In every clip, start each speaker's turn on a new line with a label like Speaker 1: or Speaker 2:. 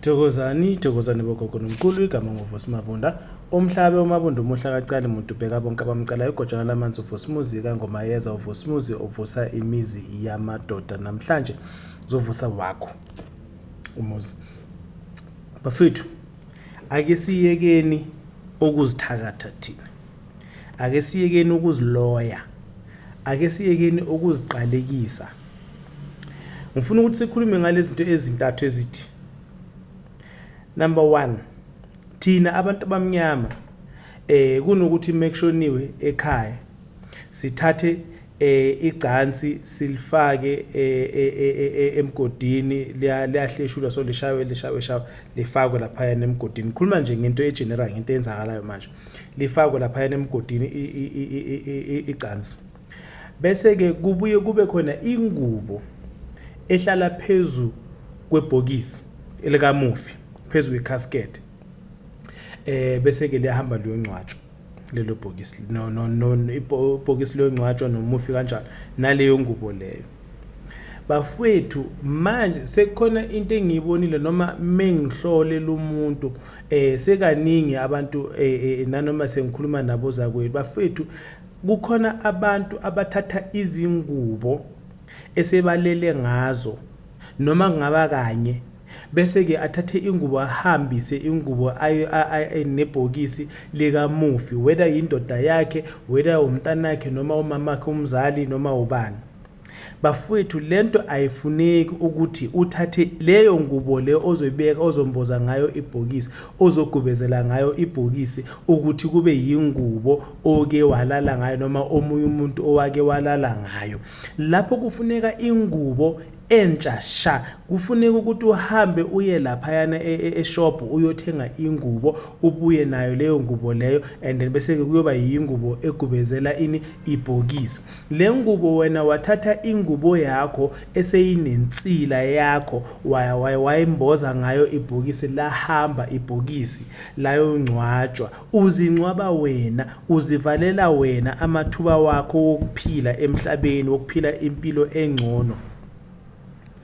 Speaker 1: Thokozani thokozani bogogo nomqulu igama nguvusi mabunda umhlabe umabunda umuhla kacali muntu bheka bonke abamcalayo ugojana lamanzi uvusi muzi kangomayeza uvusi muzi ovusa imizi yamadoda namhlanje zovusa wakho umuzi bafethu ake siyekeni ukuzithakatha thina ake siyekeni ukuziloya ake siyekeni ukuziqalekisa ngifuna ukuthi sikhulume ngalezinto ezintathu ezithi number 1 thina abantu abamnyama eh kunokuthi mekushoniwe ekhaya sithathe eh igcansi silifake eh, eh, eh, emgodini liyahleshulwa so lishawe lishawe shawe lifakwe lapha yana emgodini khuluma nje ngento egeneral ngento eyenzakalayo manje lifakwe lapha yana emgodini igcansi Bese-ke kubuye kube khona ingubo ehlala phezu kwebhokisi elikamufi phezu kwecasket eh bese ke liyahamba liyongcwatshwa lelo bhokisi no no no ibhokisi liyongcwatshwa nomufi kanjalo naleyo ngubo leyo bafwethu manje sekukhona into engiyibonile noma mengihlole lomuntu eh sekaningi abantu eh, eh nanoma sengikhuluma nabo zakwethu bafwethu Kukhona abantu abathatha izingubo esebalele ngazo noma kungaba kanye bese-ke athathe ingubo ahambise ingubo nebhokisi likamufi whether yindoda yakhe whether umntanakhe noma umamakhe umzali noma ubani Bafwethu lento ayifuneki ukuthi uthathe leyo ngubo le ozoyibeka ozomboza ngayo ibhokisi ozogubezela ngayo ibhokisi ukuthi kube yingubo oke walala ngayo noma omunye umuntu owake walala ngayo lapho kufuneka ingubo entsha sha kufuneka ukuthi uhambe uye laphayana e, e, eshop uyothenga ingubo ubuye nayo leyo ngubo leyo and then bese ke kuyoba yingubo egubezela ini ibhokisi Le ngubo wena wathatha ingubo yakho eseyinensila yakho waya waya wayimboza ngayo ibhokisi lahamba ibhokisi layongcwatshwa uzingcwaba wena uzivalela wena amathuba wakho wokuphila emhlabeni wokuphila impilo engcono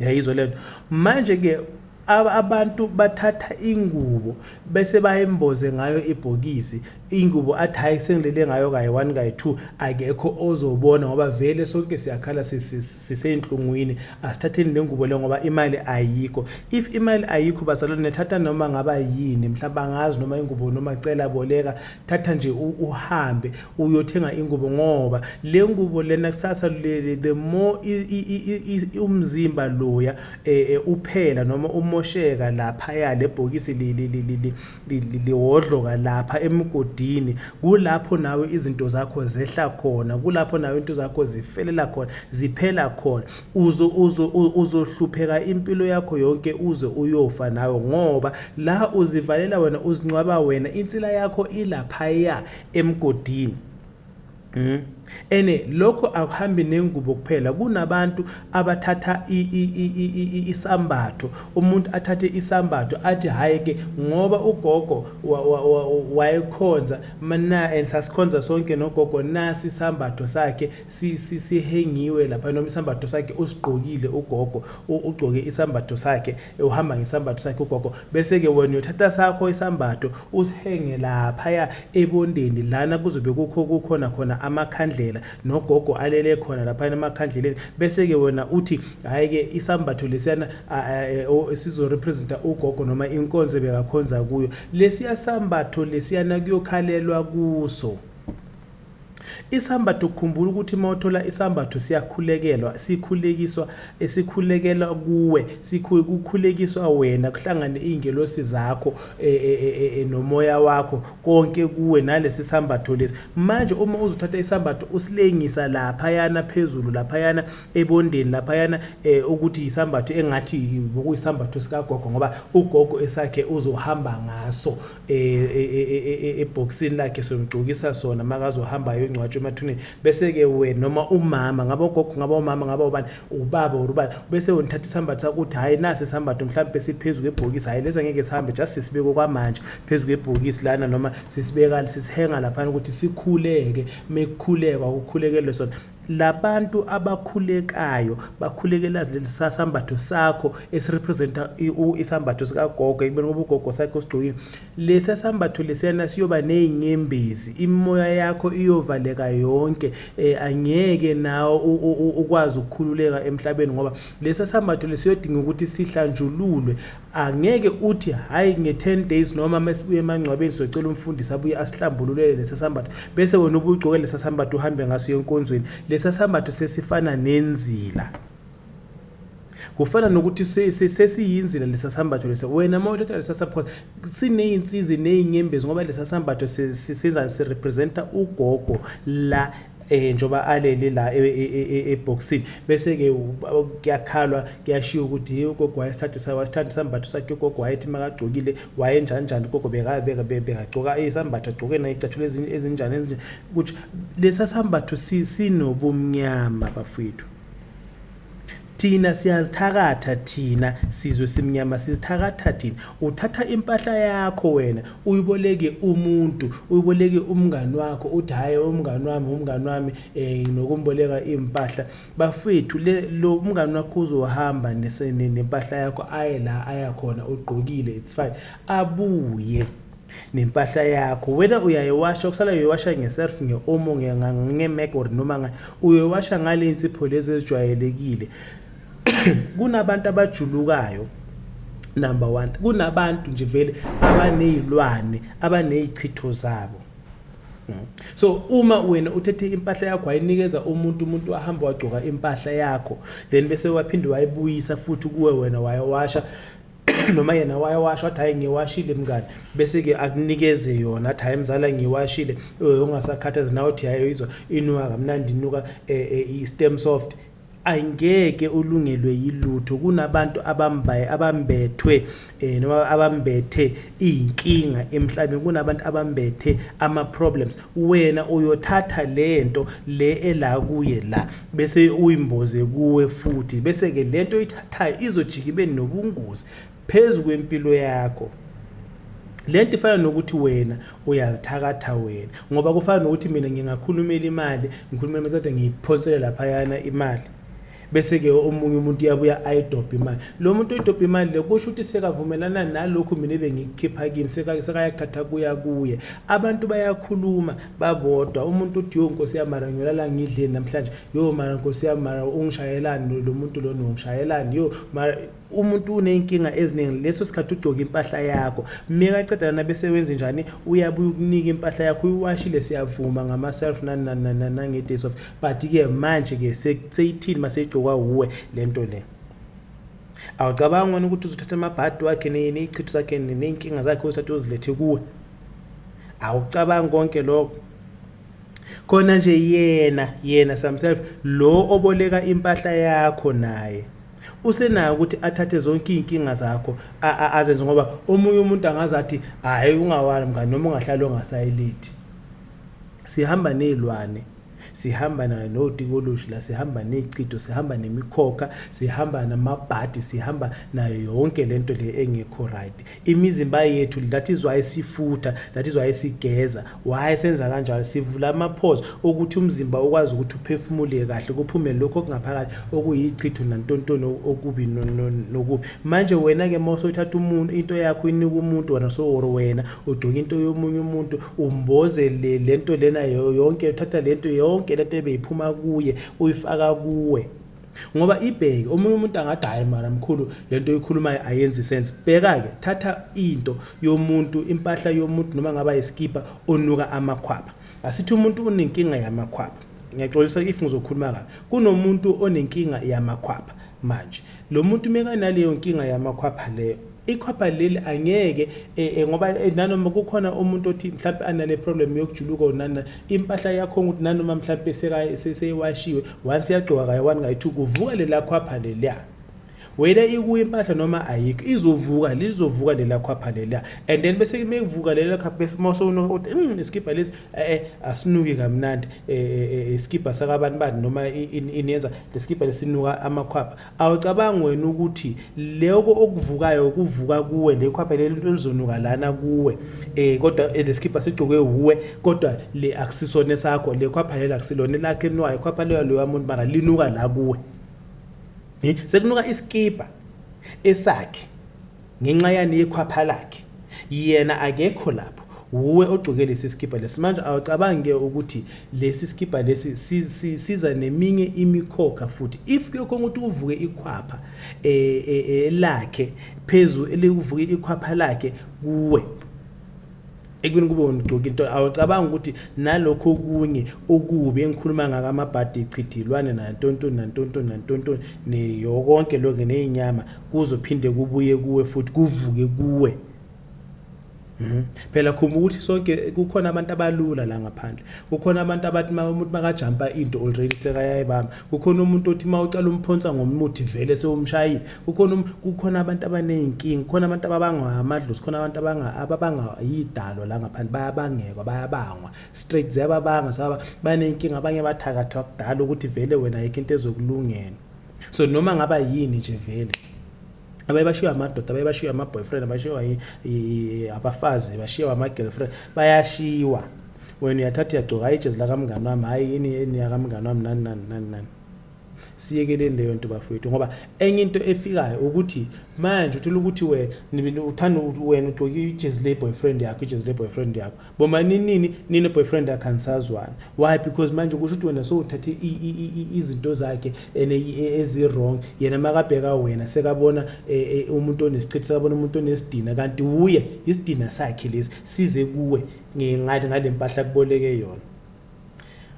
Speaker 1: yayizwa lento manje ke abantu bathatha ingubo bese bayemboze ngayo ibhokisi ingubo athi hayi sengilele ngayo kayi one kayi two akekho ozobona ngoba vele sonke siyakhala siseyinhlungwini asithatheni le ngubo le ngoba imali ayikho if imali ayikho bazalwane nethatha noma ngaba yini mhlawumbe angazi noma ingubo noma cela boleka thatha nje uhambe uyothenga ingubo ngoba le ngubo lena kusasa leli the more umzimba loya eh, eh, uphela noma umosheka lapha ya lebhokisi lihodloka lapha emgodini kulapho nawe izinto zakho zehla khona kulapho nawe into zakho zifelela khona ziphela khona uzo uzohlupheka impilo yakho yonke uze uyofa nawe ngoba la uzivalela wena uzincwaba wena insila yakho ilapha ya emgodini Mm. Ene lokho akuhambi nengubo kuphela kunabantu abathatha isambatho umuntu athathe isambatho athi hayi ke ngoba ugogo wayekhonza mana and sasikhonza sonke nogogo nasi isambatho sakhe sihengiwe lapha noma isambatho sakhe usigqokile ugogo ugcoke isambatho sakhe uhamba ngesambatho sakhe ugogo bese-ke wena uyothatha sakho isambatho usihenge laphaya ebondeni lana kuzobe kukho kukhona khona amakhandlela nogogo alele khona laphayana emakhandleleni bese-ke wena uthi hhayi-ke isambatho lesiyana e, sizorepresenta ugogo noma inkonzo ebekakhonza kuyo lesiya sambatho lesiyana kuyokhalelwa kuso Isambatho khumbula ukuthi uma uthola isambatho siyakhulekelwa sikhulekiswa sikhulekela kuwe kukhulekiswa wena kuhlangane iy'ngelosi zakho e, e, e, e, nomoya wakho konke kuwe nalesi sambatho lesi manje uma uzothatha isambatho usilengisa laphayana phezulu laphayana ebondeni laphayana eh, ukuthi yisambatho engathi bokuyisambatho sikagogo ngoba ugogo esakhe uzohamba ngaso e, e, e, ebhokisini lakhe somgcokisa sona makazohamba ayongcwatshwa emathuneni bese ke wena noma umama ngaba ugogo ngaba umama ngaba ubani ubaba or ubani bese wena uthatha isambatho sakho uthi hayi nasi isambatho mhlawumbe siphezulu kwebhokisi hayi lesa ngeke sihambe just sisibeke kwamanje phezulu kwebhokisi lana noma sisibeka sisihenga lapha ukuthi sikhuleke mekukhulekwa ukukhulekelwe sona Labantu abakhulekayo bakhulekela leli sasambatho sakho esirepresenta isambatho sikagogo ekubeni ngoba ugogo sakhe usigcokile lesi sambatho lesiyana siyoba nezinyembezi imimoya yakho iyovaleka yonke eh angeke nawe ukwazi ukukhululeka emhlabeni ngoba lesi sambatho lesiyodinga ukuthi sihlanjululwe angeke uthi hayi nge-10 days noma mesibuye emangcwabeni socela umfundisi abuye asihlambululele lesa sambatho bese wena ubugcoke lesa sambatho uhambe ngaso yenkonzweni lesa sambatho sesifana nenzila kufana nokuthi sesiyinzila lesa sambatho lesa wena uma uthatha lesa sambatho sineyinsizi neyinyembezi ngoba lesa sambatho sisizani sirepresenta ugogo la eh njoba alele la ebhoxini bese ke kuyakhalwa kuyashiya ukuthi hey ugogo wayesithathe sayo wasithatha isambatho sakhe ugogo wayethi makagcokile wayenjani njani ugogo bekabeka bekagcoka isambatho agcoke nayo icathulo ezinjani ezinjani ukuthi lesa sambatho sinobumnyama bafwethu thina siyazithakatha thina sizwe simnyama sizithakatha thina uthatha impahla yakho wena uyiboleke umuntu uyiboleke umngani wakho uthi hhayi umngani wami umngani wami um nokumboleka iy'mpahla bafethu le lo umngani wakho uzohamba nempahla yakho aye la ayakhona ugqokile it's fine abuye nempahla yakho whether uyayewasha okusalayo uyiwasha ngeself nge-omo ngemeg or noma ngani uyoyiwasha ngale nsipho lezi ezijwayelekile kunabantu abajulukayo number one kunabantu nje vele abaney'lwane abaney'chitho zabo hmm. so uma wena uthethe impahla yakho wayinikeza umuntu umuntu wahamba wagcoka impahla yakho then bese waphinde wayibuyisa futhi kuwe wena wayewasha noma yena wayewasho athi hhayi ngiwashile mngani bese-ke akunikeze yona athi hhayi mzala ngiwashile eh, ungasakhathazi nawe uthi hhayi izwa inuka kamnandi inuka eh, eh, i-stem soft angeke ulungelwe yilutho kunabantu abambaye abambethwe eh noma abambethe inkinga emhlabeni kunabantu abambethe ama problems wena uyothatha lento le ela kuye la bese uyimboze kuwe futhi bese-ke le nto oyithathayo izojika ibe nobungozi phezu kwempilo yakho le nto ifana nokuthi wena uyazithakatha wena ngoba kufana nokuthi mina ngingakhulumela imali ngikhulumela kodwa ngiyiphonsele laphayana imali bese-ke omunye umuntu uyabuya ayidobhe imali lo muntu oyidobhe imali le kusho ukuthi sekavumelana nalokhu mina ebengikukhipha kimi sekayakuthatha kuya kuye abantu bayakhuluma babodwa umuntu uthi yo nkosi yami mara ngiyolala ngidleni namhlanje yo mara nkosi yami mara ungishayelani lo muntu lona ungishayelani yo mara umuntu uney'nkinga eziningi leso sikhathi ugcoke impahla yakho mekaceda lana bese wenze njani uyabuye ukunika impahla yakho uyiwashile siyavuma ngama-self nange-days of but-ke manje-ke seyithini uma seyigcokwa wuwe le nto le Awucabangi wena ukuthi uzothatha amabhadi wakhe ney'chitho zakhe ney'nkinga zakhe uzithathe uzilethe kuwe? Awucabangi konke lokho? Khona nje yena yena samself lo oboleka impahla yakho naye usenayo ukuthi athathe zonke iy'nkinga zakho azenze ngoba omunye umuntu angaze athi hhayi ungawali mngani noma ungahlali ongasayileti. Sihamba ney'lwane. Sihamba nayo notikoloshi la, sihamba ney'chitho, sihamba nemikhokha, sihamba namabhadi, sihamba nayo yonke le nto le engekho right. Imizimba yethu, that is why sifutha, that is why sigeza. Why senza kanjalo? Sivula ama-pores okuthi umzimba ukwazi ukuthi uphefumule kahle, kuphume lokho okungaphakathi okuyichitho nantontoni okubi nokubi. Manje wena-ke uma usothatha umuntu into yakho uyinika umuntu wena soworo wena ugcoka into yomunye umuntu umboze le lento lena yonke uthatha lento yonke lento ebeyiphuma kuye uyifaka kuwe ngoba ibheke omunye umuntu angathi hayi mara mkhulu lento oyikhulumayo ayenzi sense bheka ke thatha into yomuntu impahla yomuntu noma ngaba iskipa onuka amakhwaba asithi umuntu unenkinga yamakhwaba ngiyaxolisa if ngizokhuluma kabi kunomuntu onenkinga yamakhwaba manje lo muntu mekanaleyo nkinga yamakhwapha leyo ikhwapha leli angeke eh, eh, ngoba eh, nanoma kukhona umuntu othi mhlawumbe anale problem yokujuluka onana impahla yakho ukuthi nanoma mhlawumbe seyewashiwe once yagcoka kayi-one kayi-two kuvuka lela khwapha leliya whether ikuyo impahla noma ayikho izovuka lizovuka lela khwapha lela and then bese mekuvuka lela khapha bese mose unokuthi mm iskipha lesi eh, eh asinuki kamnandi eh, eh, eh iskipha sakabantu bani noma iniyenza leskipha lesinuka amakhwapha Awucabangi wena ukuthi loko okuvukayo kuvuka kuwe le khwapha leli into elizonuka lana kuwe eh kodwa eh, lesikhipha sigcoke uwe kodwa le akusisona sakho le khwapha leli akusilona lakhe nwayo khwapha leyo loya muntu mara linuka la kuwe eh sekunuka iskipa esakhe Ngenxa yani ikhwapha lakhe. Yena akekho lapho. Wuwe ogcoke lesi sikibha lesi. Manje awucabangi ke ukuthi lesi sikibha lesi si- si- siza neminye imikhokha futhi. If kuyokhona ukuthi kuvuke ikhwapha eh, eh, eh, lakhe phezu elikuvuke ikhwapha lakhe kuwe. ekubeni kube wona ugcoka into awucabanga ukuthi nalokho okunye okubi engikhuluma ngako amabhadi ichidilwane nantontoni nantontoni nantontoni neyokonke lokho neyinyama kuzophinde kubuye kuwe futhi kuvuke kuwe mhm. phela khumba ukuthi sonke kukhona abantu abalula la ngaphandle kukhona abantu abathi uma umuntu makajampa into already sekayayibamba kukhona umuntu othi uma ucala umphonsa ngomuthi vele sewumshayile kukhona um, kukhona abantu abaney'nkinga kukhona abantu ababangwa amadlozi kukhona abantu ababanga yidalo la ngaphandle bayabangekwa bayabangwa straight ziyababanga saba baney'nkinga abanye bathakathwa kudala ukuthi vele wena ayikho into ezokulungela so noma ngaba yini nje vele abaye bashiywe amadoda abaye bashiywe ama-boyfriend abashiywa abafazi bashiywa ama-girlfriend bayashiywa wena uyathatha uyagcoka hayi ijezi lakamngani wami hhayi yini yini yakamngani wami nani nani nani nani siyekeleni leyo nto bafowethu ngoba enye into efikayo ukuthi manje uthula ukuthi wena uthanda wena ugcoke ijezi le-boyfriend yakho ijezi le-boyfriend yakho Bomaninini nine boyfriend yakhe anisazwani why because manje kusho ukuthi wena sowuthathe izinto zakhe and ezi wrong yena makabheka wena sekabona umuntu onesichithi sekabona umuntu onesidina kanti wuye isidina sakhe lesi size kuwe ngale mpahla kuboleke yona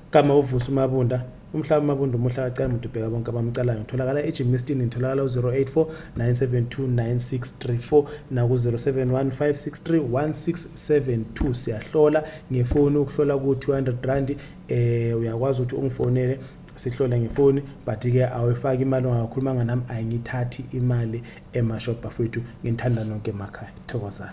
Speaker 1: Igama uVusi uMabunda Umhlaba uMabunda umuhle akacali muntu ubheka bonke abamcalayo. Ngitholakala eGymnastin ngitholakala u-084 972 9634 naku-0715631672 siyahlola ngefoni ukuhlola ku-200 rand eh uyakwazi ukuthi ungifonele sihlole ngefoni but-ke awuyifaki imali ongakhulumanga nami ayingithathi imali emashop bafowethu nginithanda nonke emakhaya thokozani